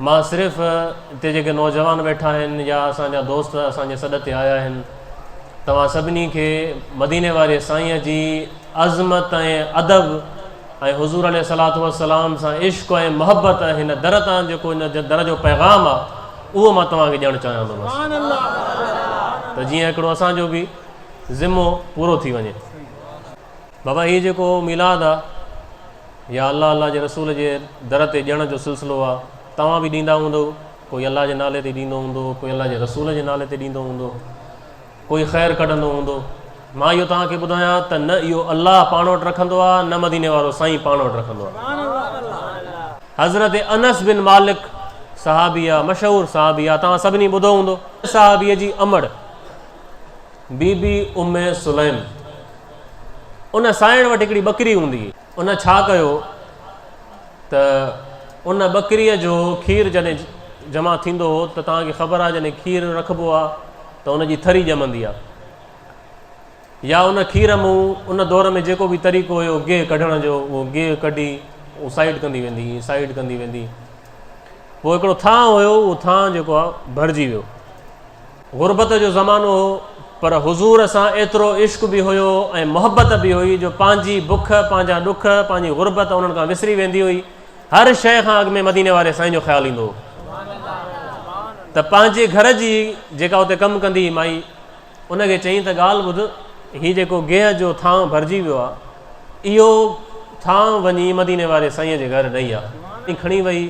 مان صرف هتي جيڪي نوجوان ويٺا آهن يا اسان جا دوست اسان جي سڏ تي آيا آهن توهان سڀني کي مديني واري سائينء جي عظمت ۽ ادب ۽ حضور عليه الصلاة والسلام سان عشق ۽ محبت ۽ هن در تان جيڪو هن در جو پيغام آ اهو مان توهان کي ڏيڻ چاهيان ٿو بس ته جيئن هڪڙو اسان جو به ذمو پورو ٿي وڃي. بابا هي جيڪو ميلاد آ يا الله الله جي رسول جي در تي ڄڻ جو سلسلو آ توهان به ڏيندا هوندؤ ڪوئي الله جي نالي تي ڏيندو هوندو ڪوئي الله جي رسول جي نالي تي ڏيندو هوندو ڪوئي خير ڪڍندو هوندو مان اهو توهان کي ٻڌايان ته نه اهو الله پاڻ وٽ رکندو آ نه مديني وارو سائين پاڻ وٽ رکندو آ حضرت انس بن مالڪ صحابي آ مشهور صحابي آ توهان سڀني ٻڌو هوندو صحابي جي امڙ بي بي ام سليم، ان سائڻ وٽ هڪڙي ٻڪري هوندي هئي. ان ڇا ڪيو ته ان ٻڪريء جو کير جڏهن جمع ٿيندو هو ته توهان کي خبر آهي جڏهن کير رکبو آهي ته ان جي ٿري ڄمندي آهي يا ان کير مون ان دور ۾ جيڪو به طريقو هيو گيهه ڪڍڻ جو اهو گيهه ڪڍي اهو سائيڊ ڪندي ويندي هئي سائيڊ ڪندي ويندي هئي پوء هڪڙو ٿانء هيو اهو ٿانء جيڪو آهي ڀرجي ويو غربت جو زمانو هو، پر حضور سان ايترو عشق به هيو ۽ محبت به هئي جو پنهنجي بک، پنهنجا ڏک، پنهنجي غربت انهن کان وسري ويندي هئي. هر شيء کان اڳ ۾ مديني واري سائين جو خيال ايندو هو ته پنهنجي گهر جي جيڪا اتي ڪم ڪندي هئي مائي ان کي چئين ته ڳالهه ٻڌ هي جيڪو گيهه جو ٿانء ڀرجي ويو آهي اهو ٿانء وڃي مديني واري سائين جي گهر ڏئي آ. ڪھڻي وئي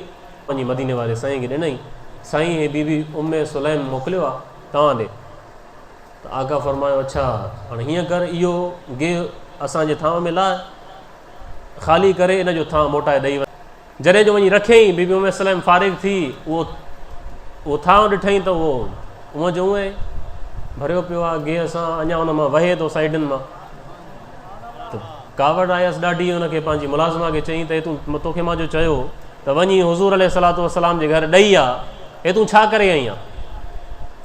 وڃي مديني واري سائين کي ڏنائين، سائين هي بي بي ام سليم موڪليو آ توهان ڏي ته آقا فرمايو اڇا هاڻ هيئن ڪر اهو گيهه اسان جي ٿانء ۾ لاء خالي ڪري ان جو ٿانء موٽائي ڏئي وڃ جڏهن جو وڃي رکيائين بي بي ام سليم فارغ ٿي اهو اهو ٿانء ڏٺائين ته اهو اونهن جو اونهي ڀريو پيو آ گيهه سان اڃا ان مان وهي ٿو سائيڊن مان ته ڪاوڙ آيس ڏاڍي ان کي پنهنجي ملازمه کي چئين ته هي تون توکي مان جو چيو ته وڃي حضور عليه الصلاة والسلام جي گهر ڏئي آ هي تون ڇا ڪري آئي آ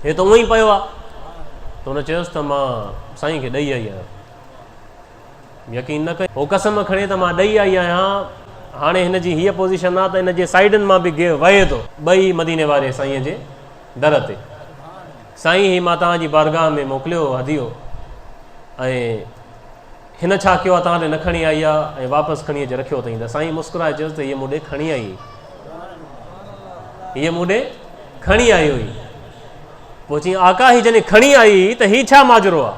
هي ته اونء ئي پيو آ ته هن چيس ته مان سائين کي ڏئي آئي آهيان يقين نه ڪيو هو قسم کڻي ته مان ڏئي آئي آهيان هاڻي هن جي هيء پوزيشن آ ته ان جي سائيڊن مان به گيهه وهي ٿو ٻئي مديني واري سائين جي در تي، سائين هي مان توهان جي بارگاهه ۾ موڪليو هو هديو ۽ هن ڇا ڪيو آهي توهان ڏي نه کڻي آئي آهي ۽ واپس کڻي اچي رکيو اٿئين ته سائين مسڪرائي چيس ته هيء مون ڏي کڻي آئي هئي هيء مون ڏي کڻي آئي هئي پوء چيائين آقا هي جڏهن کڻي آئي هئي ته هي ڇا ماجرو آهي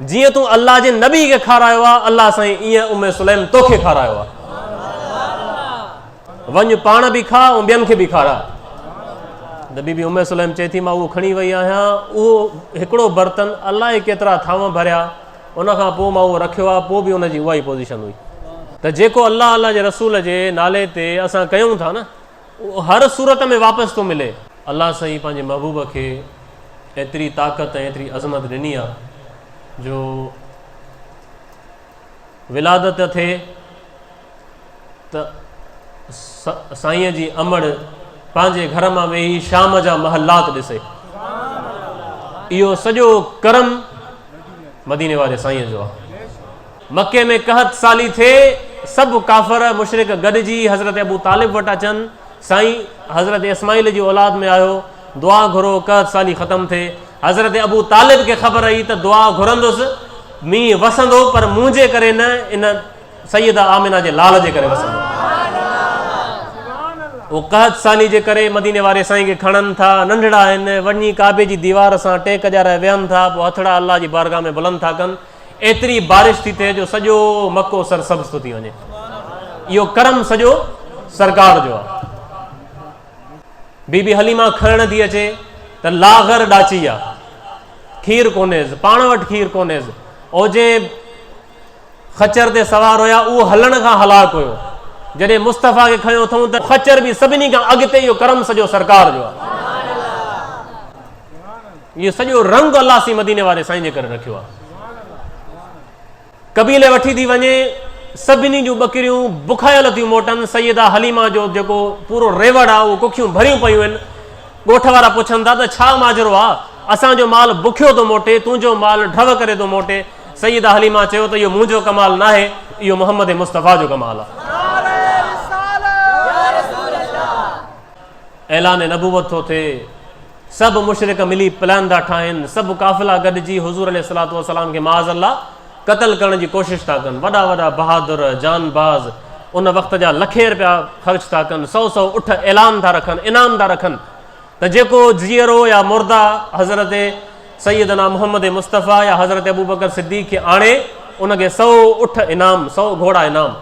جيئن تون الله جي نبي کي کارايو آ الله سائين ايئن ام سليم توکي کارايو آ وڃ پاڻ به کاء ۽ ٻين کي به کارا ته بي بي ام سليم چئي ٿي مان اهو کڻي وئي آهيان اهو هڪڙو برتن الائي ڪيترا ٿانو ڀريا ان کان پوء مان اهو رکيو آ پوء به ان جي اها ئي پوزيشن هئي ته جيڪو الله الله جي رسول جي نالي تي اسان ڪيون ٿا نه اهو هر صورت ۾ واپس ٿو ملي. الله سائين پنهنجي محبوب کي ايتري طاقت ۽ ايتري عظمت ڏني آ جو ولادت ٿئي ته سائينء جي امڙ پنهنجي گهر مان ويهي شام جا محلات ڏسي. اهو سڄو ڪرم مديني واري سائينء جو آ. مڪي ۾ قحط سالي ٿئي، سڀ ڪافر، مشرڪ، گڏجي حضرت ابو طالب وٽ اچن، سائين! حضرت اسماعيل جي اولاد ۾ آهيو، دعا گهرو، قحط سالي ختم ٿئي. حضرت ابو طالب کي خبر هئي ته دعا گهرندس، مينهن وسندو، پر منهنجي ڪري نه، ان سيده آمنه جي لال جي ڪري وسندو. هو قحط سالي جي ڪري مديني واري سائين کي کڻن ٿا، ننڍڙا آهن، وڃي ڪعبي جي ديوار سان ٽيڪ ڏيارائي ويهن ٿا، پوء هٿڙا الله جي بارگاهه ۾ بلند ٿا ڪن، ايتري بارش ٿي ٿئي جو سڄو مڪو سرسبز ٿو ٿي وڃي اهو ڪرم سڄو سرڪار جو آهي بي بي حليما کڻڻ ٿي اچي ته لاغر ڏاچي آ کير کونيز پاڻ وٽ کير کونيز او جي خچر تي سوار هيا اهو هلڻ کان هلاڪ هيو جڏهن مصطفيٰ کي کيو اٿون ته خچر به سڀني کان اڳتي اهو ڪرم سڄو سرڪار جو آ اهو سڄو رنگ الله سي مديني واري سائين جي ڪري رکيو آهي قبيلي وٺي ٿي وڃي سڀني جون ٻڪريون بکايل ٿيون موٽن سيدا حليما جو جيڪو پورو ريوڙ آهي اهو ڪکيون ڀريون پيون آهن ڳوٺ وارا پڇن ٿا ته ڇا ماجرو آهي اسان جو مال بکيو ٿو موٽي تنهنجو مال ڊو ڪري ٿو موٽي سيدا حليما چيو ته اهو منهنجو ڪمال نه آهي اهو محمد مصطفيٰ جو ڪمال آهي اعلان نبوت ٿو ٿئي، سڀ مشرڪ ملي پلان ٿا ٺاهن، سڀ قافلا گڏجي حضور عليه الصلوة والسلام کي معاذ الله قتل ڪرڻ جي ڪوشش ٿا ڪن، وڏا وڏا بهادر، جانباز، ان وقت جا لکين رپيا خرچ ٿا ڪن، سؤ سؤ اٺ اعلان ٿا رکن، انعام ٿا رکن ته جيڪو جيئرو يا مرده حضرت سيدنا محمد مصطفيٰ يا حضرت ابوبڪر صديق کي آڻي، ان کي سؤ اٺ انعام، سؤ گهوڙا انعام.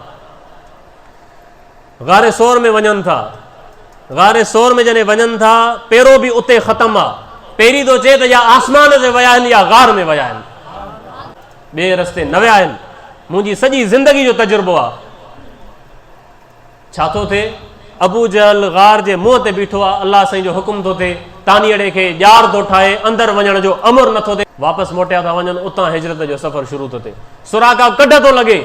غار ثور ۾ وڃن ٿا. غار ثور ۾ جڏهن وڃن ٿا پيرو به اتي ختم آ. پيري ٿو چئي ته يا آسمان تي ويا آهن يا غار ۾ ويا آهن. ٻئي رستي نه ويا آهن. منهنجي سڄي زندگي جو تجربو آ. ڇا ٿو ٿئي؟ ابو جهل غار جي منهن تي بيٺو آ. الله سائين جو حڪم ٿو ٿئي. تانيئڙي کي ڄار ٿو ٺاهي. اندر وڃڻ جو امر نه ٿو ٿئي. واپس موٽيا ٿا وڃن. اتان هجرت جو سفر شروع ٿو ٿئي. سراقه ڪڍ ٿو لڳي.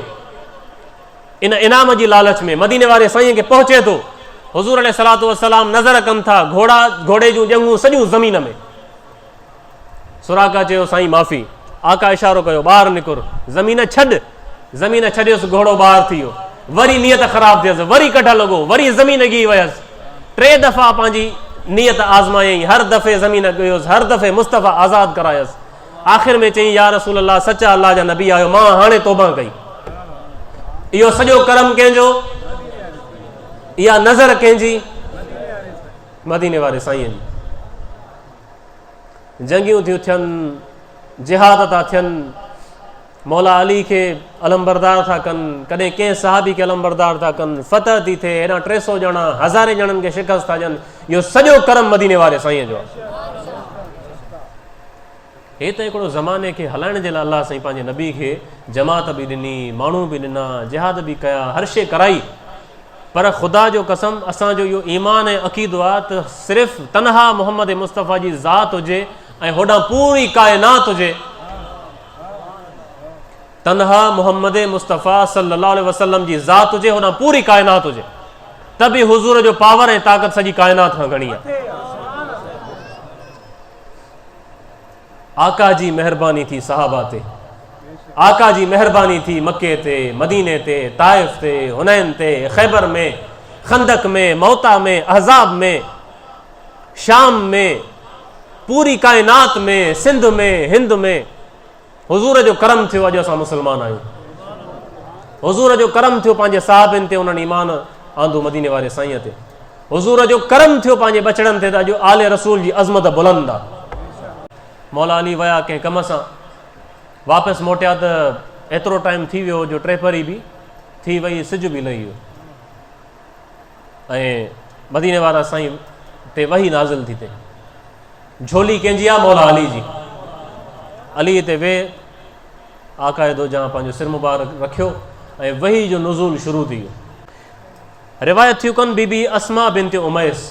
ان انعام جي لالچ ۾ مديني واري سائين کي پهچي ٿو حضور عليه الصلاه والسلام نظر ڪن ٿا گهوڙا گهوڙي جون ڄنگهون سڄون زمين ۾ سراقا چيو سائين معافي آقا اشارو ڪيو ٻاهر نڪر زمين ڇڏ زمين ڇڏيس گهوڙو ٻاهر ٿي ويو وري نيت خراب ٿيس وري ڪڍ لڳو وري زمين گي ويس ٽي دفعا پنهنجي نيت آزمايائين هر دفعي زمين ڳيوس هر دفعي مصطفيٰ آزاد ڪرايس آخر ۾ چيائين يا رسول الله سچا الله جا نبي آهيو مان هاڻي توبه ڪئي اهو سڄو ڪرم ڪنهن جو اها نظر ڪنهن جي مديني واري سائين جي جنگيون ٿيون ٿين جهاد ٿا ٿين مولا علي کي علمبردار ٿا ڪن، ڪڏهن ڪنهن صحابي کي علمبردار ٿا ڪن، فتح ٿي ٿئي، هيڏانهن ٽي سؤ ڄڻا هزارين ڄڻن کي شڪست ٿا ڏين، اهو سڄو ڪرم مديني واري سائين جو آهي. هي ته هڪڙو زماني کي هلائڻ جي لاء الله سائين پنهنجي نبي کي جماعت به ڏني، ماڻهو به ڏنا، جهاد به ڪيا، هر شيء ڪرائي، پر خدا جو قسم اسان جو اهو ايمان ۽ عقيدو آهي ته صرف تنها محمد مصطفيٰ جي ذات هجي ۽ هوڏانهن پوري ڪائنات هجي، تنها محمد مصطفيٰ صلي الله عليه وسلم جي ذات هجي هوڏانهن پوري ڪائنات هجي ته به حضور جو پاور ۽ طاقت سڄي ڪائنات کان گهڻي آهي آقا جي مهرباني ٿي صحابه تي آقا جي مهرباني ٿي مڪي تي مديني تي طائف تي هنين تي خيبر ۾ خندق ۾ موتا ۾ احزاب ۾ شام ۾، پوري ڪائنات ۾، سنڌ ۾، هند ۾، حضور جو ڪرم ٿيو اڄ اسان مسلمان آهيون. حضور جو ڪرم ٿيو پنهنجي صحابين تي انهن ايمان آندو مديني واري سائين تي. حضور جو ڪرم ٿيو پنهنجي ٻچڙن تي ته اڄ آل رسول جي عظمت بلند آ. مولا علي ويا ڪنهن ڪم سان واپس موٽيا ته ايترو ٽائيم ٿي ويو جو ٽيپهري به ٿي وئي سج به لهي ويو. ۽ مديني وارا سائين تي وحي نازل ٿي تي جھولي ڪنهن جي آ مولا علي جي علي تي وي آقا دو جان پنهنجو سر مبارڪ رکيو ۽ وحي جو نزول شروع ٿي ويو روايت ٿيو ڪن بي بي اسما بنت اميس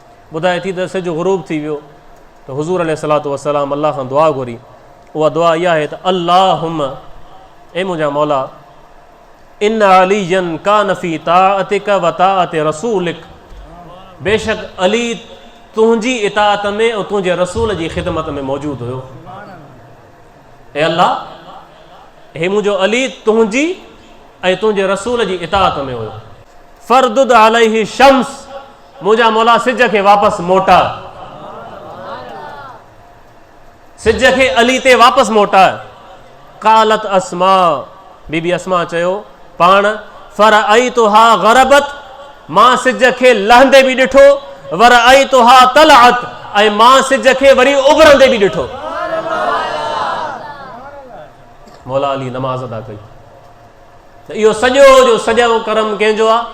ٻڌائي ٿي ته سج غروب ٿي ويو ته حضور عليه الصلاة والسلام الله کان دعا گهري اها دعا اها آهي ته اللهم اي منهنجا مولا ان علي جن کا نفي طاعتك وطاعت رسولك بيشڪ علي تنهنجي اطاعت ۾ ۽ تنهنجي رسول جي خدمت ۾ موجود هيو اي الله هي منهنجو علي تنهنجي ۽ تنهنجي رسول جي اطاعت ۾ هيو فردد عليه شمس منهنجا مولا سج کي واپس موٽاء سج کي علي تي واپس موٽاء قالت اسماء بي بي اسماء چيو پاڻ فرأيتها غربت مان سج کي لهندي به ڏٺو ورأيتها طلعت ۽ مان سج کي وري اڀرندي به ڏٺو مولا علي نماز ادا ڪئي ته اهو سڄو جو سڄو ڪرم ڪنهن جو آهي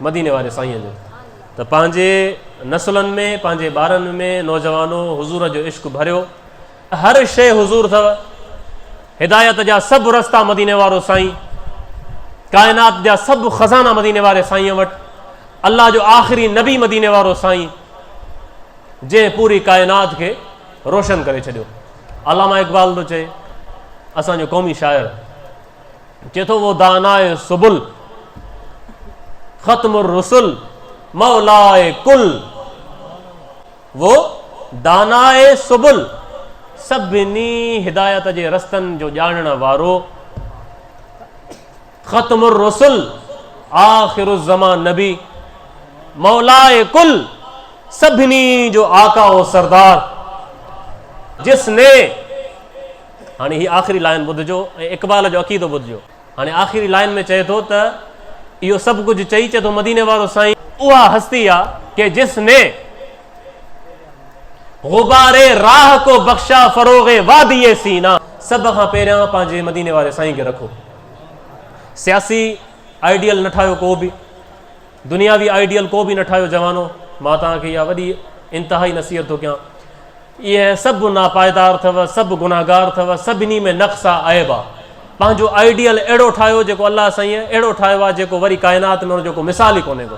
مديني واري سائين جو ته پنهنجي نسلن ۾ پنهنجي ٻارن ۾ نوجوانو حضور جو عشق ڀريو هر شيء حضور اٿو هدايت جا سڀ رستا مديني وارو سائين ڪائنات جا سڀ خزانا مديني واري سائين وٽ الله جو آخري نبي مديني وارو سائين جنهن پوري ڪائنات کي روشن ڪري ڇڏيو. علامه اقبال ٿو چئي اسان جو قومي شاعر چئي ٿو وہ دانا سبل ختم الرسل مولا کل وہ دانا سبل سڀني هدايت جي رستن جو ڄاڻڻ وارو ختم الرسل آخر الزمان نبي مولاء ڪل سڀني جو آقا و سردار جس ني هاڻي هي آخري لائن ٻڌجو ۽ اقبال جو عقيدو ٻڌجو هاڻي آخري لائن ۾ چئي ٿو ته اهو سڀ ڪجهه چئي چئي ٿو مديني وارو سائين اها هستي آ ڪي جس ني غباري راهه ڪو بخشا فروغي وادي سينا سڀ کان پهريان پنهنجي مديني واري سائين کي رکو سياسي آئيڊيل نه ٺاهيو ڪو به، دنياوي آئيڊيل ڪو به نه ٺاهيو جوانو، مان توهان کي اها وڏي انتهائي نصيحت ٿو ڪيان. اهي سڀ ناپائدار اٿو، سڀ گنهگار اٿو، سڀني ۾ نقص آ، عيب آ. پنهنجو آئيڊيل اهڙو ٺاهيو جيڪو الله سائين اهڙو ٺاهيو آ جيڪو وري ڪائنات ۾ ان جو ڪو مثال ئي ڪونهي ڪو.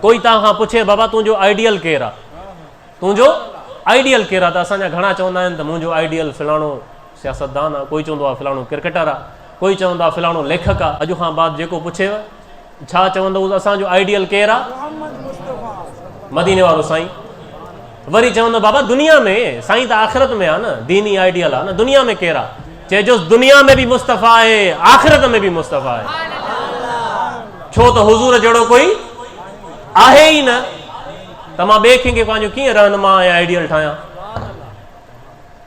ڪوئي توهان کان پڇي بابا تنهنجو آئيڊيل ڪير آ؟ تنهنجو آئيڊيل ڪير آ؟ ته اسان جا گهڻا چوندا آهن ته منهنجو آئيڊيل فلاڻو، سياستدان آ، ڪوئي چوندو آ فلاڻو ڪرڪيٽر آ، ڪوئي چوندا فلاڻو ليکڪ آ. اڄ کان بعد جيڪو پڇيو ڇا چوندوس اسان جو آئيڊيل ڪير آ؟ مديني وارو سائين. وري چوندو بابا دنيا ۾ سائين ته آخرت ۾ آ نه، ديني آئيڊيل آ نه، دنيا ۾ ڪير آ؟ چئجوس دنيا ۾ به مصطفي آهي، آخرت ۾ به مصطفي آهي. ڇو ته حضور جهڙو ڪوئي آهي ئي نه ته مان ٻئي ڪنهن کي پنهنجو ڪيئن رهنما ۽ آئيڊيل ٺاهيان؟